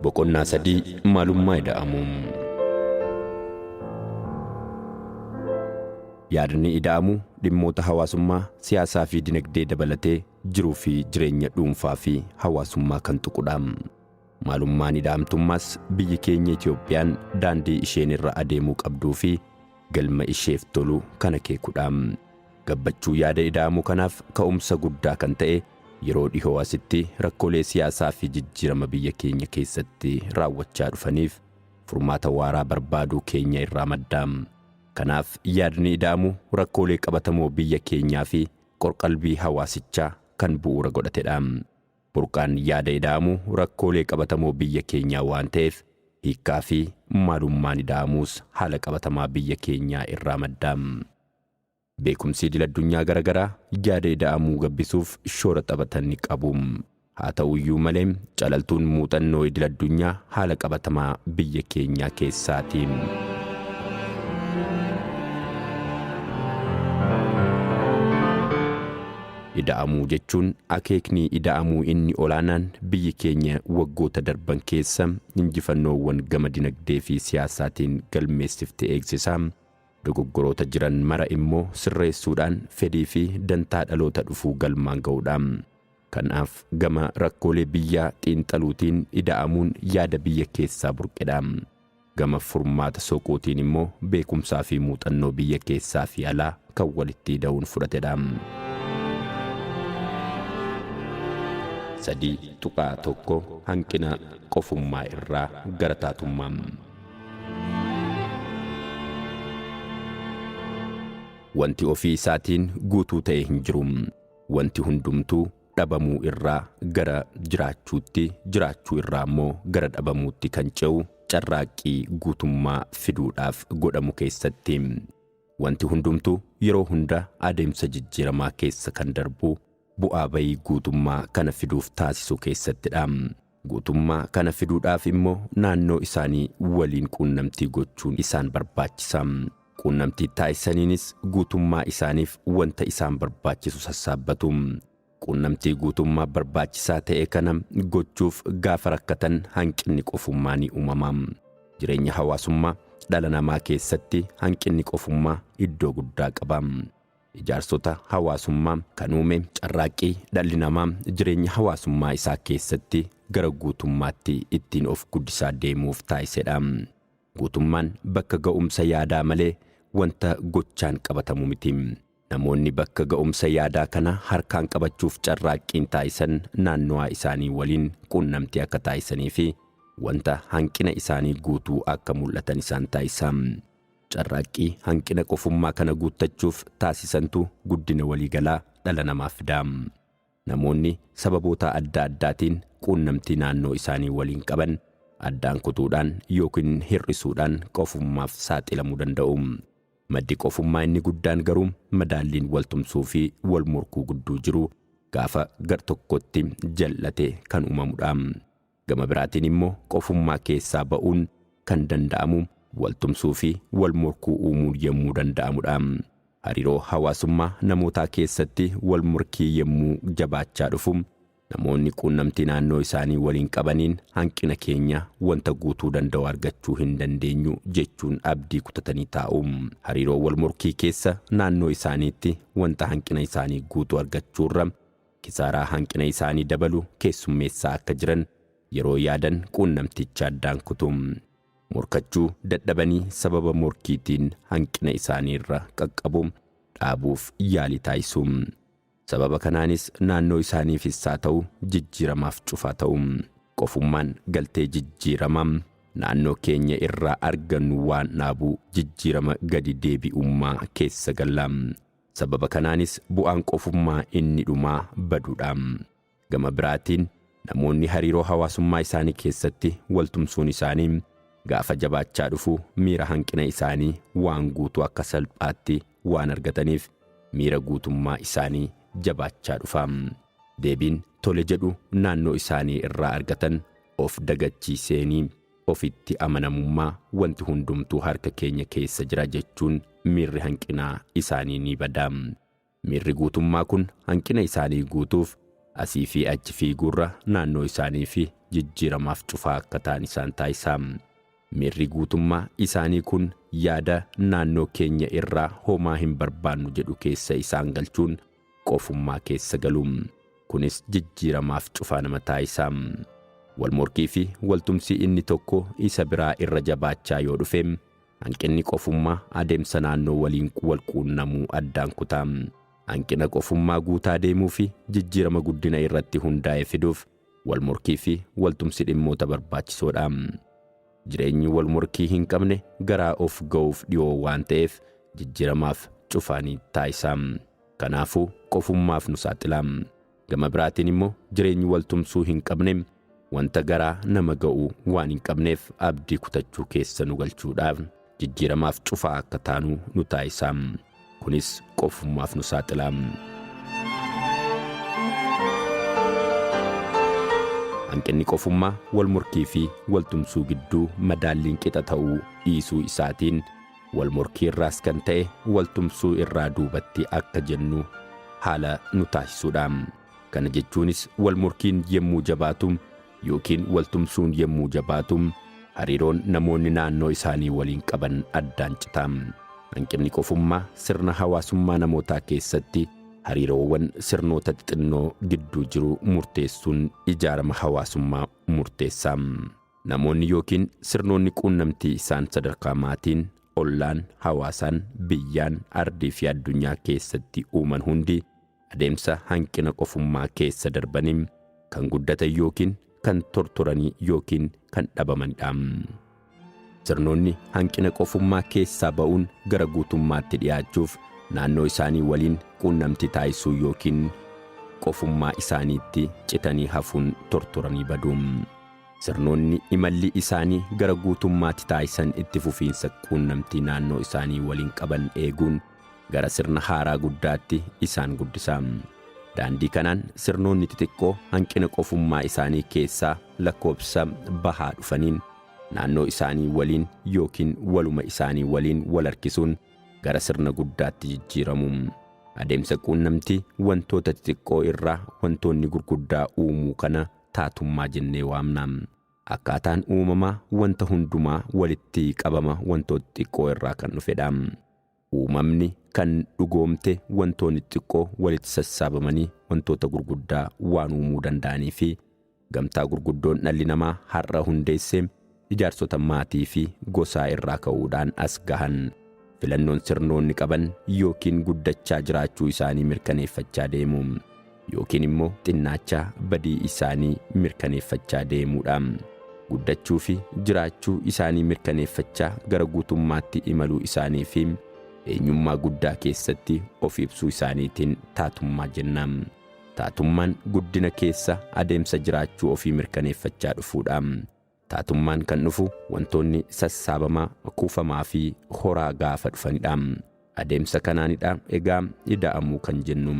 Boqonnaa sadii maalummaa ida'amuu. Yaadni ida'amuu dhimmoota hawaasummaa, siyaasaa fi dinagdee dabalatee jiruu fi jireenya dhuunfaa fi hawaasummaa kan tuqudha. Maalummaan ida'amtummaas biyyi keenya Itoophiyaan daandii isheen irra adeemuu qabduu fi galma isheef tolu kan akeekudha. Gabbachuu yaada ida'amuu kanaaf ka'umsa guddaa kan ta'e yeroo dhihoo asitti rakkoolee siyaasaa fi jijjiirama biyya keenya keessatti raawwachaa dhufaniif furmaata waaraa barbaaduu keenya irraa madda. Kanaaf yaadni ida'amu rakkoolee qabatamoo biyya keenyaa fi qorqalbii hawaasichaa kan bu'uura godhatedha. Burqaan yaada ida'amuu rakkoolee qabatamoo biyya keenyaa waan ta'eef hiikkaa fi maalummaan ida'amuus haala qabatamaa biyya keenyaa irraa madda. Beekumsi idil addunyaa gara garaa yaada ida'amuu gabbisuuf shoora taphatan ni qabu. Haa ta'u iyyuu malee calaltuun muuxannoo idil addunyaa haala qabatamaa biyya keenyaa keessaa ti. Ida'amuu jechuun akeekni ida'amuu inni olaanaan biyyi keenya waggoota darban keessa injifannoowwan gama dinagdee fi siyaasaatiin galmeessifte eegsisaa, dogoggoroota jiran mara immoo sirreessuudhaan fedhii fi dantaa dhaloota dhufuu galmaan ga'uudha. Kanaaf gama rakkoolee biyyaa xiinxaluutiin ida'amuun yaada biyya keessaa burqedha. Gama furmaata soquutiin immoo beekumsaa fi muuxannoo biyya keessaa fi alaa kan walitti ida'uun fudhatedha. 3.1 Hanqina qofummaa irraa gara taatummaa. Wanti ofii isaatiin guutuu ta'e hin jiru. Wanti hundumtuu dhabamuu irraa gara jiraachuutti, jiraachuu irraa immoo gara dhabamuutti kan ce'u carraaqqii guutummaa fiduudhaaf godhamu keessatti. Wanti hundumtuu yeroo hunda adeemsa jijjiiramaa keessa kan darbu bu'aa bayii guutummaa kana fiduuf taasisu keessattidha. Guutummaa kana fiduudhaaf immoo naannoo isaanii waliin quunnamtii gochuun isaan barbaachisa. Quunnamtii taasisaniinis guutummaa isaaniif wanta isaan barbaachisu sassaabbatu. Quunnamtii guutummaa barbaachisaa ta'e kana gochuuf gaafa rakkatan hanqinni qofummaa ni uumama. Jireenya hawaasummaa dhala namaa keessatti hanqinni qofummaa iddoo guddaa qaba. Ijaarsota hawaasummaa kan uume carraaqqii dhalli namaa jireenya hawaasummaa isaa keessatti gara guutummaatti ittiin of guddisaa deemuuf taasisedha. Guutummaan bakka ga'umsa yaadaa malee wanta gochaan qabatamu miti. Namoonni bakka ga'umsa yaadaa kana harkaan qabachuuf carraaqqiin taasisan naannowaa isaanii waliin quunnamtii akka taasisaniifi wanta hanqina isaanii guutuu akka mul'atan isaan taasisa. Carraaqqii hanqina qofummaa kana guuttachuuf taasisantu guddina waliigalaa dhala namaaf fida. Namoonni sababootaa adda addaatiin quunnamtii naannoo isaanii waliin qaban addaan kutuudhaan yookiin hir'isuudhaan qofummaaf saaxilamuu danda'u. Maddi qofummaa inni guddaan garuu madaalliin waltumsuu fi walmorkuu gudduu jiru gaafa gartokkotti jal'ate kan uumamudha. Gama biraatiin immoo qofummaa keessaa ba'uun kan danda'amu wal tumsuu fi wal morkuu uumuun yemmuu danda'amu dha. Hariiroo hawaasummaa namootaa keessatti wal morkii yemmuu jabaachaa dhufu namoonni quunnamtii naannoo isaanii waliin qabaniin hanqina keenya wanta guutuu danda'u argachuu hin dandeenyu jechuun abdii kutatanii taa'u. Hariiroo wal morkii keessa naannoo isaaniitti wanta hanqina isaanii guutu argachuurra, kisaaraa hanqina isaanii dabalu keessummeessaa akka jiran yeroo yaadan quunnamticha addaan kutu. Morkachuu dadhabanii sababa morkiitiin hanqina isaanii irra qaqqabu dhaabuuf yaalii taasisu. Sababa kanaanis naannoo isaaniifis haa ta'u jijjiiramaaf cufaa ta'u. Qofummaan galtee jijjiirama naannoo keenya irraa argannu waan dhaabu jijjiirama gadi deebi'ummaa keessa galla. Sababa kanaanis bu'aan qofummaa inni dhumaa baduudha. Gama biraatiin, namoonni hariiroo hawaasummaa isaanii keessatti waltumsuun isaanii gaafa jabaachaa dhufu miira hanqina isaanii waan guutuu akka salphaatti waan argataniif miira guutummaa isaanii jabaachaa dhufa. Deebiin tole jedhu naannoo isaanii irraa argatan of dagachiiseenii. Ofitti amanamummaa, Wanti hundumtuu harka keenya keessa jira jechuun miirri hanqinaa isaanii ni bada. Miirri guutummaa kun hanqina isaanii guutuuf asii fi achi fiiguurra naannoo isaanii fi jijjiiramaaf cufaa akka ta'an isaan taasisa. Miirri guutummaa isaanii kun yaada naannoo keenya irraa homaa hin barbaannu jedhu keessa isaan galchuun qofummaa keessa galu. Kunis jijjiiramaaf cufaa nama taasisa. Wal morkii fi wal tumsi inni tokko isa biraa irra jabaachaa yoo dhufe, hanqinni qofummaa adeemsa naannoo waliin wal quunnamuu addaan kuta. Hanqina qofummaa guutaa deemuu fi jijjiirama guddina irratti hundaa'e fiduuf Walmorkii fi waltumsi dhimmoota barbaachisoo dha. Jireenyi walmorkii hin qabne garaa of ga'uuf dhiyoo waan ta'eef jijjiiramaaf cufaa ni taasisa. Kanaafuu qofummaaf nu saaxila. Gama biraatiin immoo jireenyi waltumsuu hin qabne wanta garaa nama ga'u waan hin qabneef abdii kutachuu keessa nu galchuudha. jijjiiramaaf cufaa akka taanu nu taasisa. Kunis qofummaaf nu saaxila. Hanqinni qofummaa wal morkii fi wal tumsuu gidduu madaalliin qixa ta'uu dhiisuu isaatiin wal morkii irraas kan ta'e wal tumsuu irraa duubatti akka jennu haala nu taasisuudha. Kana jechuunis wal morkiin yemmuu jabaatu yookiin wal tumsuun yommuu jabaatu hariiroon namoonni naannoo isaanii waliin qaban addaan cita. Hanqinni qofummaa sirna hawaasummaa namootaa keessatti hariiroowwan sirnoota xixinnoo gidduu jiru murteessuun ijaarama hawaasummaa murteessa. Namoonni yookiin sirnoonni quunnamtii isaan sadarkaa maatiin, ollaan, hawaasaan, biyyaan, ardii fi addunyaa keessatti uuman hundi Adeemsa hanqina qofummaa keessa darbanii kan guddatan yookiin kan tortoranii yookiin kan dhabamanidha. Sirnoonni hanqina qofummaa keessaa ba'uun gara guutummaatti dhiyaachuuf naannoo isaanii waliin quunnamtii taasisuu yookiin qofummaa isaaniitti citanii hafuun tortoranii badu. Sirnoonni imalli isaanii gara guutummaatti taasisan itti fufiinsa quunnamtii naannoo isaanii waliin qaban eeguun Gara sirna haaraa guddaatti isaan guddisa. Daandii kanaan sirnoonni xixiqqoo hanqina qofummaa isaanii keessaa lakkoobsa bahaa dhufaniin naannoo isaanii waliin yookiin waluma isaanii waliin wal harkisuun gara sirna guddaatti jijjiiramu. Adeemsa quunnamtii wantoota xixiqqoo irraa wantoonni gurguddaa uumuu kana taatummaa jennee waamna. Akkaataan uumamaa wanta hundumaa walitti qabama wantoota xixiqqoo irraa kan dhufedha. Uumamni kan dhugoomte wantoonni xixiqqoo walitti sassaabamanii wantoota gurguddaa waan uumuu danda'anii fi gamtaa gurguddoon dhalli namaa har'a hundeesse ijaarsota maatii fi gosaa irraa ka'uudhaan as gahan filannoon sirnoonni qaban yookiin guddachaa jiraachuu isaanii mirkaneeffachaa deemu. yookiin immoo xinnaachaa badii isaanii mirkaneeffachaa deemuu dha. Guddachuu fi jiraachuu isaanii mirkaneeffachaa gara guutummaatti imaluu isaanii fi eenyummaa guddaa keessatti of ibsuu isaaniitiin taatummaa jenna. Taatummaan guddina keessa adeemsa jiraachuu ofii mirkaneeffachaa dhufuu dha. Taatummaan kan dhufu wantoonni sassaabamaa, kuufamaa fi horaa gaafa dhufanidha. Adeemsa kanaanidha egaa ida'amuu kan jennu.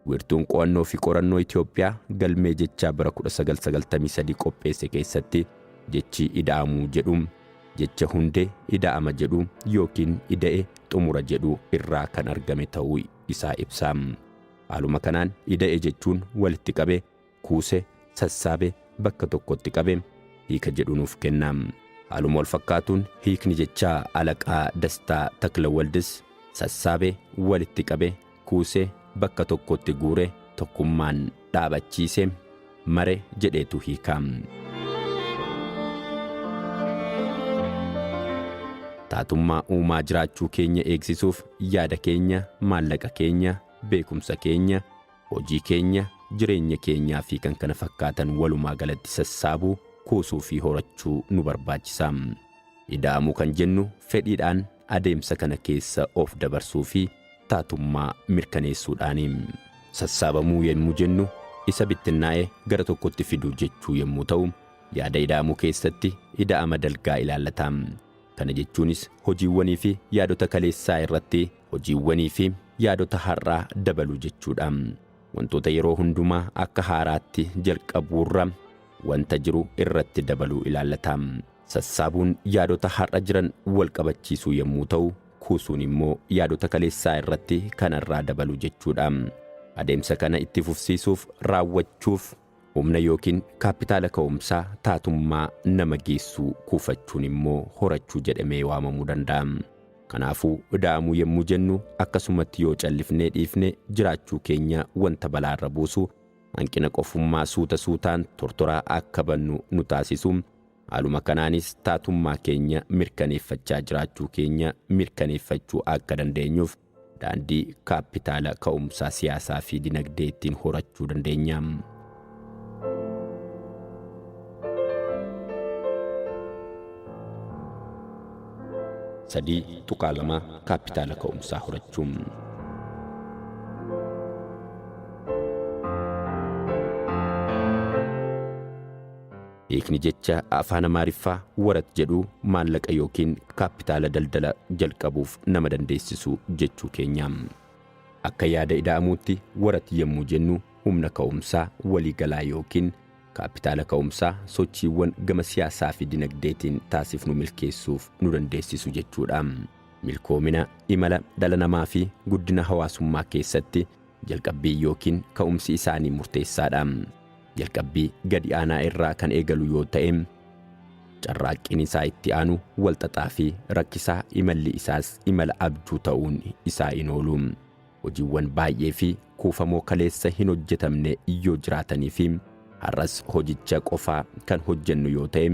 Wiirtuun Qo'annoo fi Qorannoo Itoophiyaa galmee jechaa bara 1993 qopheesse keessatti jechi ida'amuu jedhu jecha hundee ida'ama jedhu yookiin ida'e xumura jedhu irraa kan argame ta'uu isaa ibsa. Haaluma kanaan ida'e jechuun walitti qabe kuuse, sassaabe, bakka tokkotti qabe hiika jedhu nuuf kenna. Haaluma wal fakkaatuun hiikni jechaa Alaqaa Dastaa Taklawaldis sassaabe, walitti qabe, kuuse, bakka tokkotti guure, tokkummaan dhaabachiise, mare jedheetu hiika. Taatummaa uumaa jiraachuu keenya eegsisuuf yaada keenya, maallaqa keenya, beekumsa keenya, Hojii keenya, jireenya keenyaa fi kan kana fakkaatan walumaa galatti sassaabuu, kuusuu fi horachuu nu barbaachisa. Ida'amuu kan jennu fedhiidhaan adeemsa kana keessa of dabarsuu fi taatummaa mirkaneessuudhaani. Sassaabamuu yemmuu jennu isa bittinnaa'e gara tokkotti fiduu jechuu yemmuu ta'u, yaada ida'amuu keessatti ida'ama dalgaa ilaallata. Kana jechuunis hojiiwwanii fi yaadota kaleessaa irratti hojiiwwanii fi yaadota har'aa dabaluu jechuudha. Wantoota yeroo hundumaa akka haaraatti jalqabuurra wanta jiru irratti dabaluu ilaallata. Sassaabuun yaadota har'a jiran wal qabachiisuu yommuu ta'u, kuusuun immoo yaadota kaleessaa irratti kanarraa dabaluu jechuudha. Adeemsa kana itti fufsiisuuf, raawwachuuf, Humna yookiin kaappitaala ka'umsaa taatummaa nama geessuu kuufachuun immoo horachuu jedhamee waamamuu danda'a. Kanaafuu, ida'amuu yommuu jennu akkasumatti yoo callifnee dhiifne jiraachuu keenya wanta balaarra buusu, hanqina qofummaa suuta suutaan tortoraa akka bannu nu taasisu, haaluma kanaanis taatummaa keenya mirkaneeffachaa jiraachuu keenya mirkaneeffachuu akka dandeenyuuf Daandii kaappitaala ka'umsaa siyaasaa fi dinagdee ittiin horachuu dandeenya. sadii tuqaa lama kaappitaala ka'umsaa horachuun. Hiikni jecha afaan Amaariffaa warat jedhuu maallaqa yookiin kaappitaala daldala jalqabuuf nama dandeessisu jechuu keenya. Akka yaada Ida'amuutti warat yemmuu jennu humna ka'umsaa walii galaa yookiin kaappitaala ka'umsaa sochiiwwan gama siyaasaafi dinagdeetiin taasifnu milkeessuuf nu dandeessisu jechuudha. Milkoomina, imala, dhala namaafi guddina hawaasummaa keessatti Jalqabbiin ykn ka'umsi isaanii murteessaadha. Jalqabbii gadi aanaa irraa kan eegalu yoo ta'e, carraaqqiin isaa itti aanu wal xaxaa fi rakkisaa imalli isaas imala abjuu ta'uun isaa hin oolu. Hojiiwwan baay'ee fi kuufamoo kaleessa hin hojjetamne yoo jiraatanii fi har'as hojicha qofaa kan hojjennu yoo ta'e,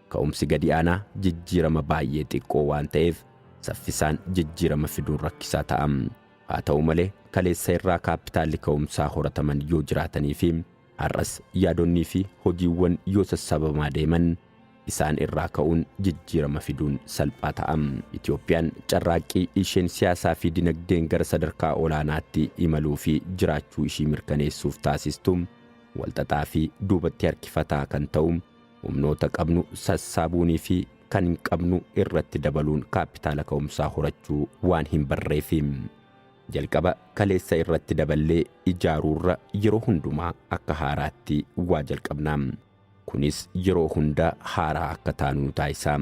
ka'umsi gadi aanaa jijjiirama baay'ee xiqqoo waan ta'eef saffisaan jijjiirama fiduun rakkisaa ta'a. Haa ta'u malee, kaleessa irraa kaappitaalli ka'umsaa horataman yoo jiraatanii fi har'as yaadonnii fi hojiiwwan yoo sassabamaa deeman isaan irraa ka'uun jijjiirama fiduun salphaa ta'a. Itoophiyaan carraaqqii isheen siyaasaa fi dinagdeen gara sadarkaa olaanaatti imaluu fi jiraachuu ishii mirkaneessuuf taasistu walxaxaa fi duubatti harkifataa kan ta'u Humnoota qabnu sassaabuunii fi kan hin qabnu irratti dabaluun kaappitaala ka'umsaa horachuu waan hin barreefi. Jalqaba kaleessa irratti daballee ijaaruurra yeroo hundumaa akka haaraatti waa jalqabna. Kunis yeroo hunda haaraa akka taanu nu taasisa.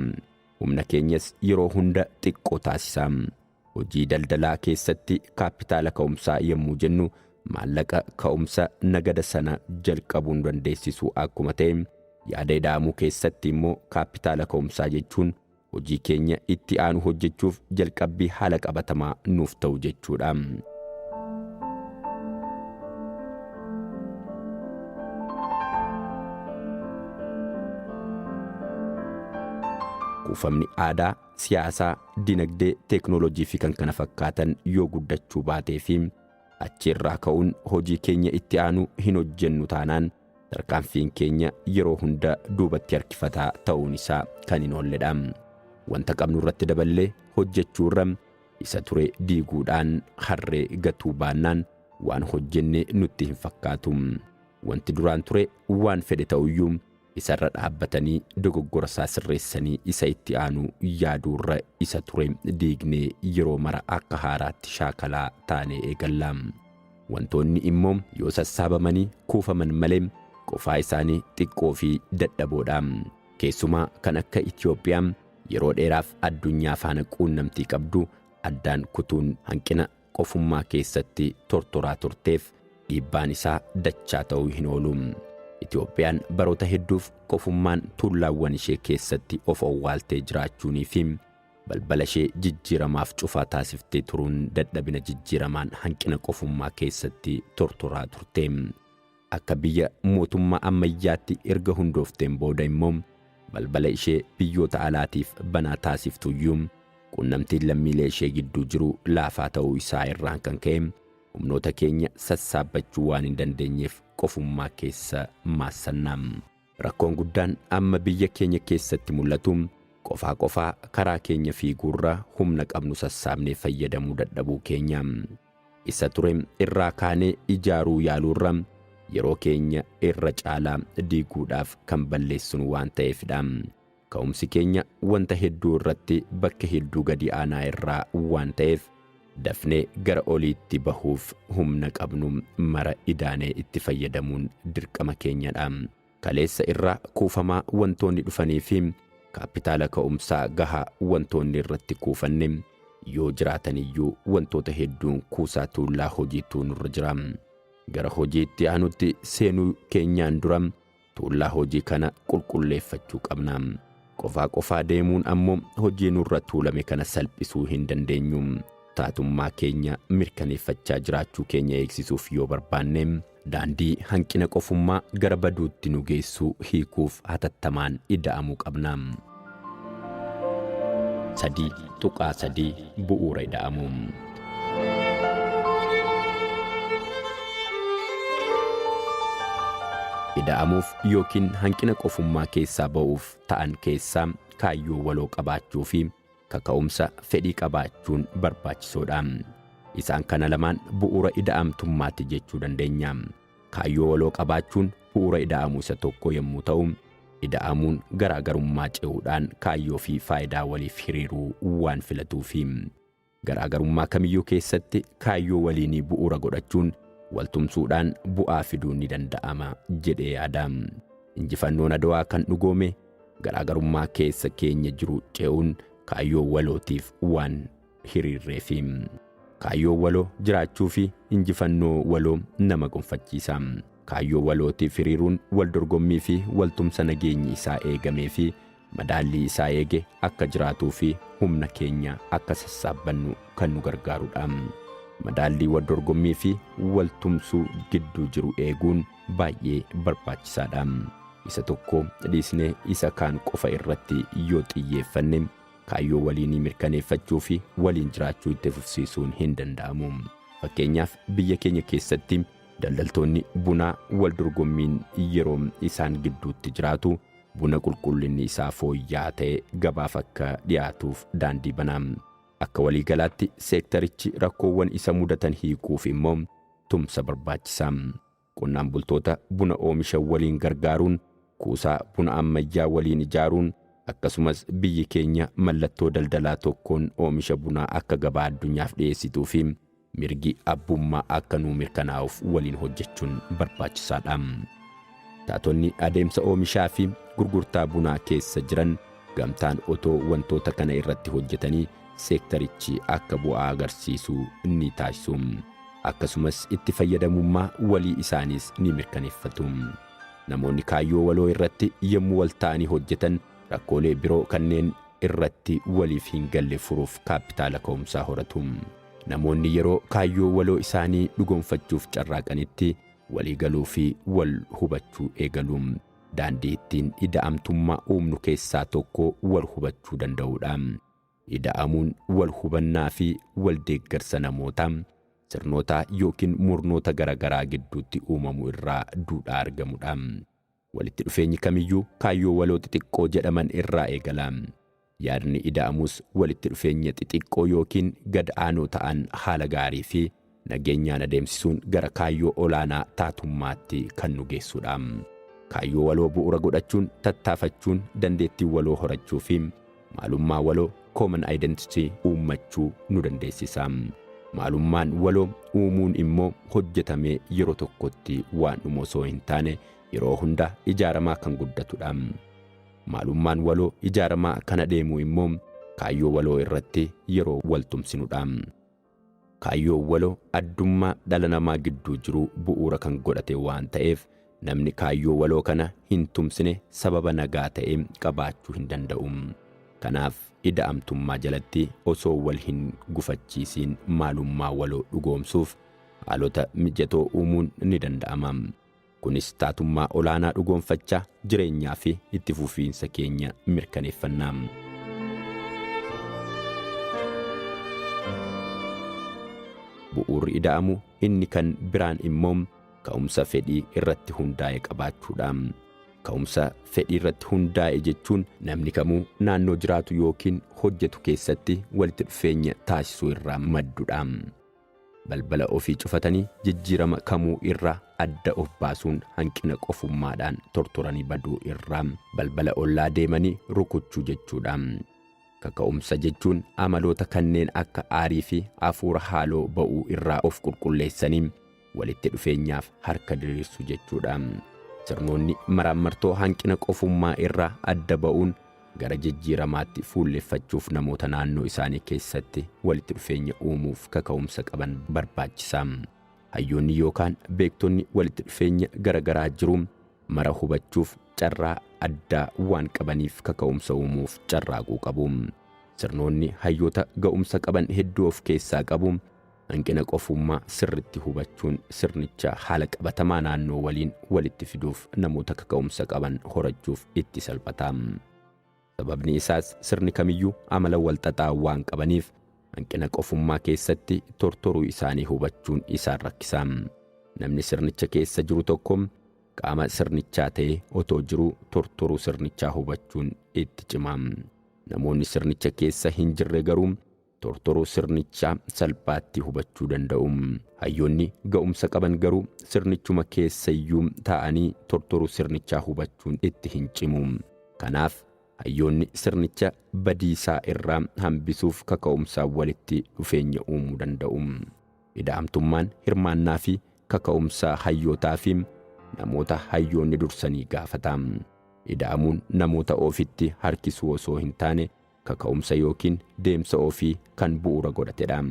Humna keenyas yeroo hunda xiqqoo taasisa. Hojii daldalaa keessatti kaappitaala ka'umsaa yommuu jennu maallaqa ka'umsa nagada sana jalqabuu nu dandeessisu akkuma ta'e, yaada ida'amuu keessatti immoo kaappitaala ka'umsaa jechuun hojii keenya itti aanu hojjechuuf jalqabbii haala qabatamaa nuuf ta'u jechuu dha. Kuufamni aadaa siyaasaa, dinagdee, teeknooloojii fi kan kana fakkaatan yoo guddachuu baatee fi achi irraa ka'uun hojii keenya itti aanu hin hojjennu taanaan tarkaanfiin keenya yeroo hunda duubatti harkifataa ta'uun isaa kan hin oolledha. Wanta qabnu irratti daballee hojjechuu irra isa ture diiguudhaan harree gatuu baannaan waan hojjenne nutti hin fakkaatu. Wanti duraan ture waan fedhe ta'uyyuu Isarra dhaabbatanii dogoggora isaa sirreessanii isa itti aanu yaaduurra isa ture diignee yeroo mara akka haaraatti shaakalaa taanee eegalla. Wantoonni immoo yoo sassaabamanii kuufaman malee qofaa isaanii xiqqoo fi dadhaboodha. Keessumaa kan akka Itoophiyaa yeroo dheeraaf addunyaa faana quunnamtii qabdu addaan kutuun hanqina qofummaa keessatti tortoraa turteef dhiibbaan isaa dachaa ta'uu hin oolu. Itoophiyaan baroota hedduuf qofummaan tuullaawwan ishee keessatti of owwaaltee jiraachuunii fi balbala ishee jijjiiramaaf cufaa taasiftee turuun dadhabina jijjiiramaan hanqina qofummaa keessatti tortoraa turte. Akka biyya mootummaa ammayyaatti erga hundoofteen booda immoo balbala ishee biyyoota alaatiif banaa taasiftu iyyuu quunnamtiin lammiilee ishee gidduu jiru laafaa ta'uu isaa irraan kan ka'e humnoota keenya sassaabbachuu waan hin dandeenyeef qofummaa keessa maassanna. Rakkoon guddaan amma biyya keenya keessatti mul'atu qofaa qofaa karaa keenya fiiguurra humna qabnu sassaabnee fayyadamuu dadhabuu keenya. Isa ture irraa kaanee ijaaruu yaaluurra yeroo keenya irra caalaa diiguudhaaf kan balleessinu waan ta'eefidha. Ka'umsi keenya wanta hedduu irratti bakka hedduu gadi aanaa irraa waan ta'eef dafnee gara oliitti bahuuf humna qabnu mara idaanee itti fayyadamuun dirqama keenyadha. kaleessa irraa kuufamaa wantoonni dhufanii fi kaappitaala ka'umsaa gahaa wantoonni irratti kuufanne yoo jiraatan iyyuu wantoota hedduun kuusaa tuullaa hojiitu nurra jira. Gara hojii itti aanutti seenuu keenyaan dura tuullaa hojii kana qulqulleeffachuu qabna. Qofaa qofaa deemuun ammoo hojii nurra tuulame kana salphisuu hin dandeenyu. Taatummaa keenya mirkaneeffachaa jiraachuu keenya eegsisuuf yoo barbaanne Daandii hanqina qofummaa gara baduutti nu geessu hiikuuf hatattamaan ida'amuu qabna. 3.3 Bu'uura Ida'amuu. Ida'amuuf ykn hanqina qofummaa keessaa ba'uuf ta'an keessaa kaayyoo waloo qabaachuu fi Kaka'umsa fedhii qabaachuun barbaachisoodha. Isaan kana lamaan bu'uura ida'amtummaati jechuu dandeenya. Kaayyoo waloo qabaachuun bu'uura ida'amuu isa tokkoo yommuu ta'u, ida'amuun garaagarummaa ce'uudhaan kaayyoo fi faayidaa waliif hiriiruu waan filatuufi. Garaagarummaa kamiyyuu keessatti kaayyoo waliinii bu'uura godhachuun waltumsuudhaan bu'aa fiduun ni danda'ama jedhee yaada. Injifannoon Adwaa kan dhugoome garaagarummaa keessa keenya jiru ce'uun kaayyoo walootiif waan hiriirreefi. Kaayyoon waloo jiraachuu fi injifannoo waloo nama gonfachiisa. Kaayyoo walootiif hiriiruun waldorgommii fi waltumsa nageenyi isaa eegamee fi madaallii isaa eege akka jiraatuu fi humna keenya akka sassaabbannu kan nu gargaaru dha. Madaallii wal dorgommii fi wal tumsuu gidduu jiru eeguun baay'ee barbaachisaa dha. Isa tokko dhiisnee isa kaan qofa irratti yoo xiyyeeffanne kaayyoo waliinii mirkaneeffachuu fi waliin jiraachuu itti fufsiisuun hin danda'amu. Fakkeenyaaf biyya keenya keessatti daldaltoonni bunaa wal dorgommiin yeroo isaan gidduutti jiraatu Buna qulqullinni isaa fooyya'aa ta'e gabaaf akka dhiyaatuuf daandii bana. Akka waliigalaatti seektarichi rakkoowwan isa mudatan hiikuuf immoo tumsa barbaachisa. Qonnaan bultoota buna oomishan waliin gargaaruun, kuusaa buna ammayyaa waliin ijaaruun, akkasumas biyyi keenya mallattoo daldalaa tokkoon oomisha bunaa akka gabaa addunyaaf dhiyeessituu fi Mirgi abbummaa akka nuu mirkanaa'uuf waliin hojjechuun barbaachisaadha. Taatonni adeemsa oomishaa fi gurgurtaa bunaa keessa jiran gamtaan otoo wantoota kana irratti hojjetanii seektarichi akka bu'aa agarsiisu ni taasisu. Akkasumas itti fayyadamummaa walii isaaniis ni mirkaneeffatu. Namoonni kaayyoo waloo irratti yommuu wal ta'anii hojjetan rakkoolee biroo kanneen irratti waliif hin galle furuuf kaappitaala ka'umsaa horatu. Namoonni yeroo kaayyoo waloo isaanii dhugoomfachuuf carraaqanitti walii galuu fi wal hubachuu eegalu. Daandii ittiin ida'amtummaa uumnu keessaa tokko wal hubachuu danda'uu dha. Ida'amuun wal hubannaa fi wal deeggarsa namoota, sirnootaa ykn murnoota garagaraa gidduutti uumamu irraa duudhaa argamu dha. Walitti dhufeenyi kamiyyuu kaayyoo waloo xixiqqoo jedhaman irraa eegala. Yaadni ida'amus walitti dhufeenya xixiqqoo ykn gad aanoo ta'an haala gaarii fi nageenyaan adeemsisuun gara kaayyoo olaanaa taatummaatti kan nu geessudha. Kaayyoo waloo bu'uura godhachuun tattaafachuun dandeettii waloo horachuu fi Maalummaa waloo, common identity, uummachuu nu dandeessisa. Maalummaan waloo uumuun immoo hojjetamee yeroo tokkotti waan dhumu osoo hin taane yeroo hunda ijaaramaa kan guddatudha. Maalummaan waloo ijaaramaa kan adeemu immoo kaayyoo waloo irratti yeroo wal tumsinudha. Kaayyoon waloo addummaa dhala namaa gidduu jiruu bu'uura kan godhate waan ta'eef namni kaayyoo waloo kana hin tumsine sababa nagaa ta'e qabaachuu hin danda'u. Kanaaf ida'amtummaa jalatti osoo wal hin gufachiisiin maalummaa waloo dhugoomsuuf haalota mijatoo uumuun ni danda'ama. Kunis taatummaa olaanaa dhugoomfachaa jireenyaa fi itti fufiinsa keenya mirkaneeffanna. Bu'uurri ida'amu inni kan biraan immoo ka'umsa fedhii irratti hundaa'e qabaachuudha. Ka'umsa fedhii irratti hundaa'e jechuun namni kamuu naannoo jiraatu yookiin hojjetu keessatti walitti dhufeenya taasisuu irraa maddudha. Balbala ofii cufatanii jijjiirama kamuu irraa adda of baasuun hanqina qofummaadhaan tortoranii baduu irraa balbala ollaa deemanii rukuchuu jechuudha. Kaka'umsa jechuun amaloota kanneen akka aarii fi hafuura haaloo ba'uu irraa of qulqulleessanii walitti dhufeenyaaf harka diriirsu jechuudha. Sirnoonni maraammartoo hanqina qofummaa irraa adda ba'uun Gara jijjiiramaatti fuulleffachuuf namoota naannoo isaanii keessatti walitti dhufeenya uumuuf kaka'umsa qaban barbaachisa. Hayyoonni yookaan beektonni walitti dhufeenya gara garaa jiru mara hubachuuf carraa addaa waan qabaniif kaka'umsa uumuuf carraaquu qabu. Sirnoonni hayyoota ga'umsa qaban hedduu of keessaa qabu. Hanqina qofummaa sirritti hubachuun sirnicha haala qabatamaa naannoo waliin walitti fiduuf namoota kaka'umsa qaban horachuuf itti salphata. Sababni isaas sirni kamiyyuu amala walxaxaa waan qabaniif hanqina qofummaa keessatti tortoruu isaanii hubachuun isaan rakkisa. Namni sirnicha keessa jiru tokko qaama sirnichaa ta'ee otoo jiruu tortoruu sirnichaa hubachuun itti cima. Namoonni sirnicha keessa hin jirre garuu tortoruu sirnichaa salphaatti hubachuu danda'u. Hayyoonni ga'umsa qaban garuu sirnichuma keessayyuu taa'anii tortoruu sirnichaa hubachuun itti hin cimu. Kanaaf hayyoonni sirnicha badiisaa irraa hambisuuf kaka'umsaan walitti dhufeenya uumuu danda'u. Ida'amtummaan hirmaannaa fi kaka'umsaa hayyootaa fi namoota hayyoonni dursanii gaafata. Ida'amuun namoota ofitti harkisuu osoo hin taane kaka'umsa yookiin deemsa ofii kan bu'uura godhatedha.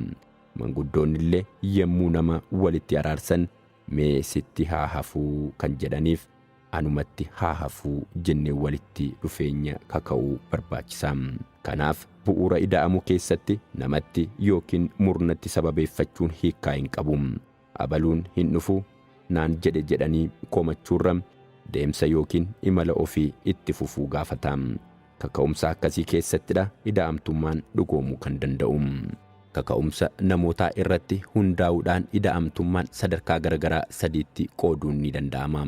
Manguddoonnillee yommuu nama walitti araarsan mee sitti haa hafuu kan jedhaniif anumatti haa hafuu jennee walitti dhufeenya kaka'uu barbaachisa. Kanaaf bu'uura ida'amu keessatti namatti yookiin murnatti sababeeffachuun hiikkaa hin qabu. abaluun hin dhufu naan jedhe jedhanii komachuurra deemsa yookiin imala ofii itti fufuu gaafata. Kaka'umsa akkasii keessattidha ida'amtummaan dhugoomuu kan danda'u. Kaka'umsa namootaa irratti hundaa'uudhaan ida'amtummaan sadarkaa garagaraa sadiitti qooduun ni danda'ama.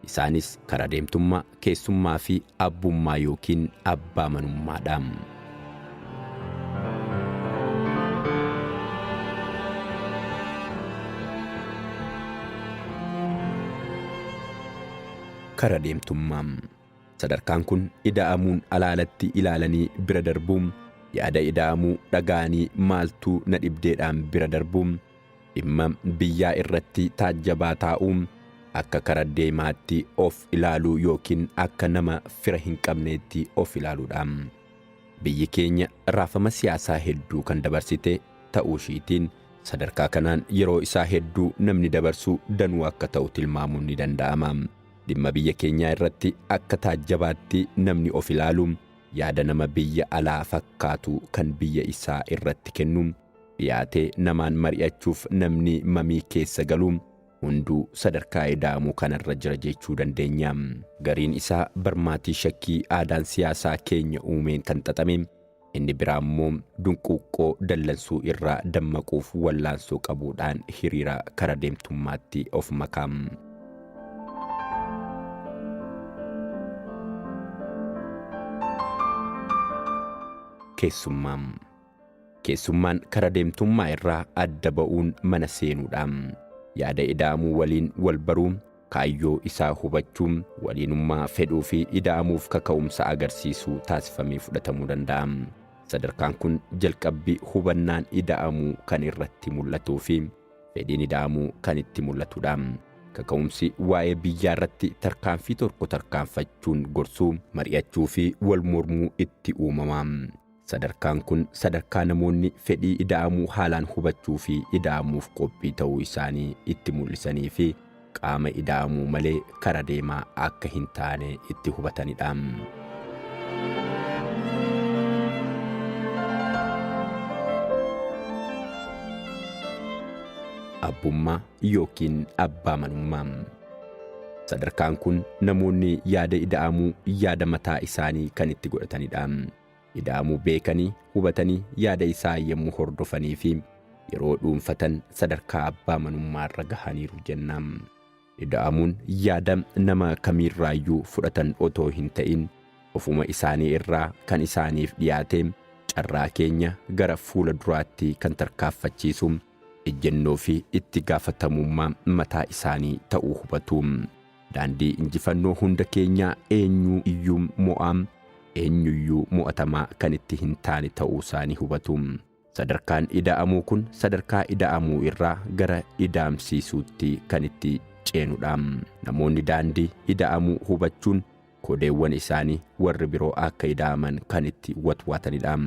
Isaanis karaa deemtummaa, keessummaa fi abbummaa yookiin abbaa manummaa dha. Karaa deemtummaa. Sadarkaan kun ida'amuun alaalatti ilaalanii bira darbu. Yaada ida'amuu dhaga'anii maaltuu na dhibdeedhaan bira darbu. Dhimma biyyaa irratti taajjabaa taa'u. Akka kara deemaatti of ilaaluu yookiin akka nama fira hin qabneetti of ilaaluudha. Biyyi keenya raafama siyaasaa hedduu kan dabarsite ta'uu ishiitiin sadarkaa kanaan yeroo isaa hedduu namni dabarsu danuu akka ta'u tilmaamuun ni danda'ama. Dhimma biyya keenyaa irratti akka taajjabaatti namni of ilaalu, yaada nama biyya alaa fakkaatu kan biyya isaa irratti kennu, dhiyaatee namaan mari'achuuf namni mamii keessa galu hunduu sadarkaa ida'amu kanarra jira jechuu dandeenya. Gariin isaa barmaatii shakkii aadaan siyaasaa keenya uumeen kan xaxame, Inni biraa immoo dunquuqqoo dallansuu irraa dammaquuf wallaansoo qabuudhaan hiriira kara deemtummaatti of maka. Keessummaa Keessummaan kara deemtummaa irraa adda ba'uun mana seenuudha. Yaada ida'amuu waliin wal baruu, kaayyoo isaa hubachuu, waliinummaa fedhuu fi ida'amuuf kaka'umsa agarsiisuu taasifamee fudhatamuu danda'a. Sadarkaan kun jalqabbii hubannaan ida'amuu kan irratti mul'atuu fi fedhiin ida'amuu kan itti mul'atudha. Kaka'umsi waa'ee biyyaa irratti tarkaanfii tokko tarkaanfachuun gorsuu, mari'achuu fi wal mormuu itti uumama. Sadarkaan kun sadarkaa namoonni fedhii ida'amuu haalaan hubachuu fi ida'amuuf qophii ta'uu isaanii itti mul'isanii fi qaama ida'amuu malee kara deemaa akka hin taane itti hubatanidha. Abbummaa yookiin abbaa manummaa. Sadarkaan kun namoonni yaada ida'amuu yaada mataa isaanii kan itti godhatanidha. ida'amuu beekanii, hubatanii yaada isaa yommuu hordofanii fi yeroo dhuunfatan sadarkaa abbaa manummaa irra gahaniiru jenna. Ida'amuun yaada nama kamiirraayyuu fudhatan otoo hin ta'in ofuma isaanii irraa kan isaaniif dhiyaate carraa keenya gara fuula duraatti kan tarkaaffachiisu ejjennoo fi itti gaafatamummaa mataa isaanii ta'uu hubatu. Daandii injifannoo hunda keenyaa eenyu iyyuu mo'aa, eenyu iyyuu mo'atamaa kan itti hin taane ta'uu isaa ni hubatu. Sadarkaan ida'amuu kun sadarkaa ida'amuu irraa gara idaamsiisuutti kan itti ceenu dha. Namoonni daandii ida'amuu hubachuun Kodeewwan isaanii warri biroo akka ida'aman kan itti watwaatanidha.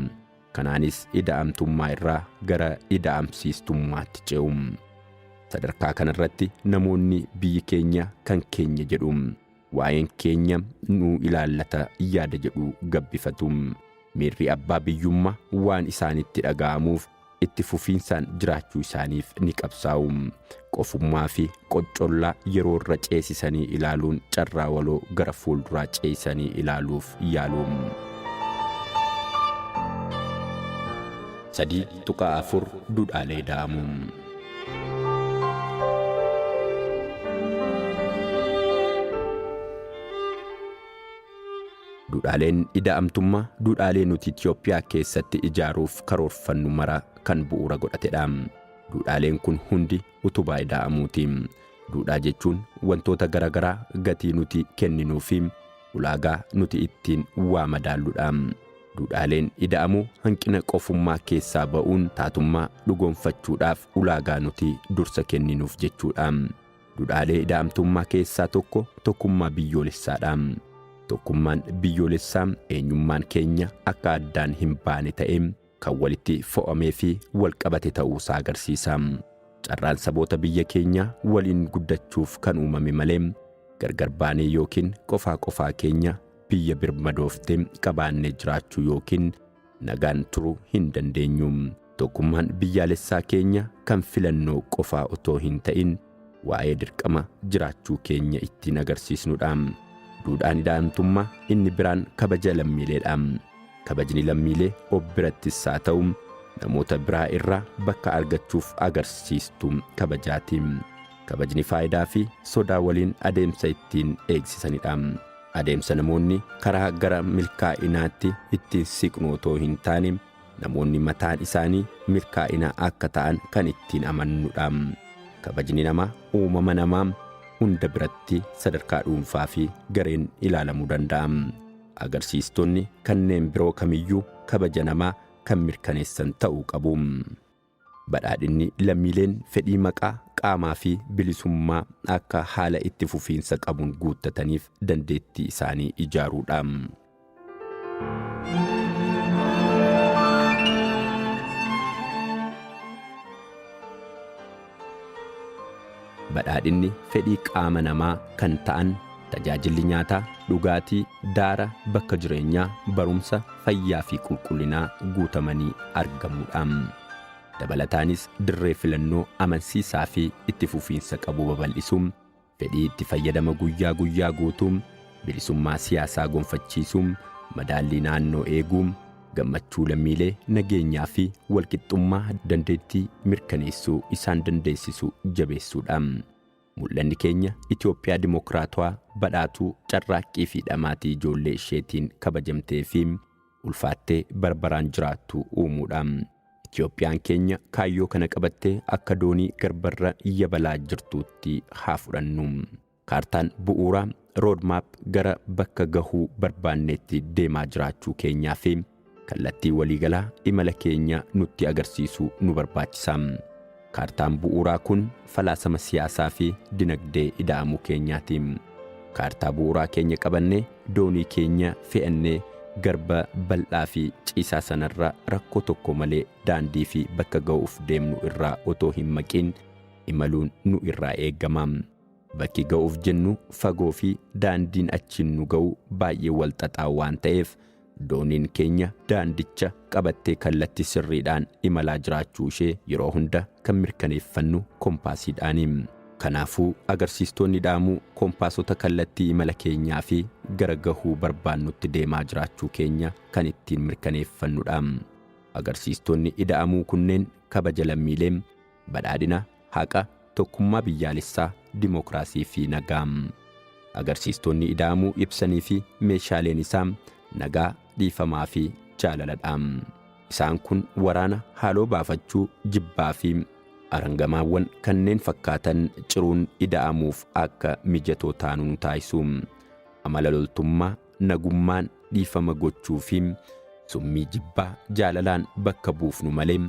Kanaanis ida'amtummaa irraa gara ida'amsiistummaatti ce'u. Sadarkaa kanarratti namoonni biyyi keenya kan keenya jedhu. Waa'een keenya nu ilaallata yaada jedhu gabbifatu. Miirri abbaa biyyummaa waan isaanitti dhaga'amuuf itti fufiinsaan jiraachuu isaaniif ni qabsaa'u. Qofummaa fi qoccollaa yeroo irra ceesisanii ilaaluun carraa waloo gara fuulduraa ceesisanii ilaaluuf yaalu. 3.4 Duudhaalee Da'amuu Duudhaaleen ida'amtummaa duudhaalee nuti Itiyoophiyaa keessatti ijaaruuf karoorfannu mara kan bu'uura godhatedha. Duudhaaleen kun hundi utubaa ida'amuuti. Duudhaa jechuun wantoota garagaraa gatii nuti kenninuu fi ulaagaa nuti ittiin waa madaalludha. Duudhaaleen ida'amuu hanqina qofummaa keessaa ba'uun taatummaa dhugoomfachuudhaaf ulaagaa nuti dursa kenninuuf jechuudha. Dudhaalee ida'amtummaa keessaa tokko tokkummaa biyyoolessaadha. Tokkummaan biyyoolessaa eenyummaan keenya akka addaan hin baane ta'ee kan walitti fo'amee fi wal qabate ta'uu isaa agarsiisa. Carraan saboota biyya keenyaa waliin guddachuuf kan uumame malee gargar baanee yookiin qofaa qofaa keenya biyya birmadoofte qabaannee jiraachuu yookiin nagaan turuu hin dandeenyu. Tokkummaan biyyaalessaa keenya kan filannoo qofaa otoo hin ta'in waa'ee dirqama jiraachuu keenya ittiin agarsiisnudha. Duudhaan ida'antummaa inni biraan kabaja lammiileedha. Kabajni lammiilee of birattis haa ta'u namoota biraa irraa bakka argachuuf agarsiistu kabajaati. Kabajni faayidaa fi sodaa waliin adeemsa ittiin eegsisanidha. Adeemsa namoonni karaa gara milkaa'inaatti itti siqnu otoo hin taane, namoonni mataan isaanii milkaa'ina akka ta'an kan ittiin amannudha. Kabajni namaa uumama namaa hunda biratti sadarkaa dhuunfaa fi gareen ilaalamuu danda'a. Agarsiistonni kanneen biroo kamiyyuu kabaja namaa kan mirkaneessan ta'uu qabu. Badhaadhinni lammiileen fedhii maqaa, qaamaa fi bilisummaa akka haala itti fufiinsa qabuun guuttataniif dandeettii isaanii ijaaruu dha. Badhaadhinni fedhii qaama namaa kan ta'an tajaajilli nyaataa, dhugaatii, daara, bakka jireenyaa, barumsa, fayyaa fi qulqullinaa guutamanii argamuudha. Dabalataanis dirree filannoo amansiisaa fi itti fufiinsa qabu babal'isuun fedhii itti fayyadama guyyaa guyyaa guutuu, bilisummaa siyaasaa gonfachiisuu, madaallii naannoo eeguu, gammachuu lammiilee nageenyaa fi walqixxummaa dandeettii mirkaneessuu isaan dandeessisu jabeessuudha. Mul'anni keenya Itoophiyaa Dimookiraatawaa badhaatuu carraaqqii fi dhamaatii ijoollee isheetiin kabajamtee fi ulfaattee barbaraan jiraattu uumuudha. Itoophiyaan keenya kaayyoo kana qabattee akka doonii garbarra yabalaa jirtuutti haa fudhannu. Kaartaan bu'uuraa, road map, gara bakka gahuu barbaanneetti deemaa jiraachuu keenyaa fi kallattii waliigalaa imala keenya nutti agarsiisuu nu barbaachisa. Kaartaan bu'uuraa kun falaasama siyaasaa fi dinagdee ida'amuu keenyaati. Kaartaa bu'uuraa keenya qabannee doonii keenya fe'annee garba bal'aa fi ciisaa sanarra rakkoo tokko malee daandii fi bakka ga'uuf deemnu irraa otoo hin maqiin imaluun nu irraa eegama. Bakki ga'uuf jennu fagoo fi daandiin achiin nu ga'u baay'ee wal xaxaa waan ta'eef dooniin keenya daandicha qabattee kallattii sirriidhaan imalaa jiraachuu ishee yeroo hunda kan mirkaneeffannu kompaasiidhaani. Kanaafuu agarsiistoonni dhaamuu kompaasota kallattii imala keenyaa fi gara gahuu barbaannutti deemaa jiraachuu keenya kan ittiin mirkaneeffannudha. Agarsiistoonni ida'amuu kunneen kabaja lammiilee, Badhaadhina, haqa, tokkummaa biyyaalessaa, dimookiraasii fi nagaa. Agarsiistoonni ida'amuu ibsanii fi meeshaaleen isaa nagaa, dhiifamaa fi jaalala dha. Isaan kun waraana, haaloo baafachuu, jibbaa fi arangamaawwan kanneen fakkaatan ciruun ida'amuuf akka mijatoo taanu nu taasisu. Amala loltummaa, nagummaan dhiifama gochuu fi summii jibbaa jaalalaan bakka buufnu malee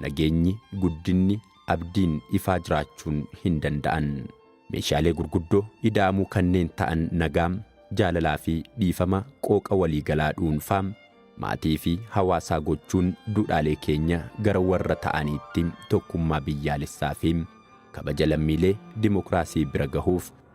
nageenyi, guddinni, abdiin ifaa jiraachuun hin danda'an. Meeshaalee gurguddoo ida'amuu kanneen ta'an nagaa, jaalalaa fi dhiifama qooqa waliigalaa dhuunfaa, maatii fi hawaasaa gochuun duudhaalee keenya gara warra ta'aniitti tokkummaa biyyaalessaa fi kabaja lammiilee dimokiraasii bira gahuuf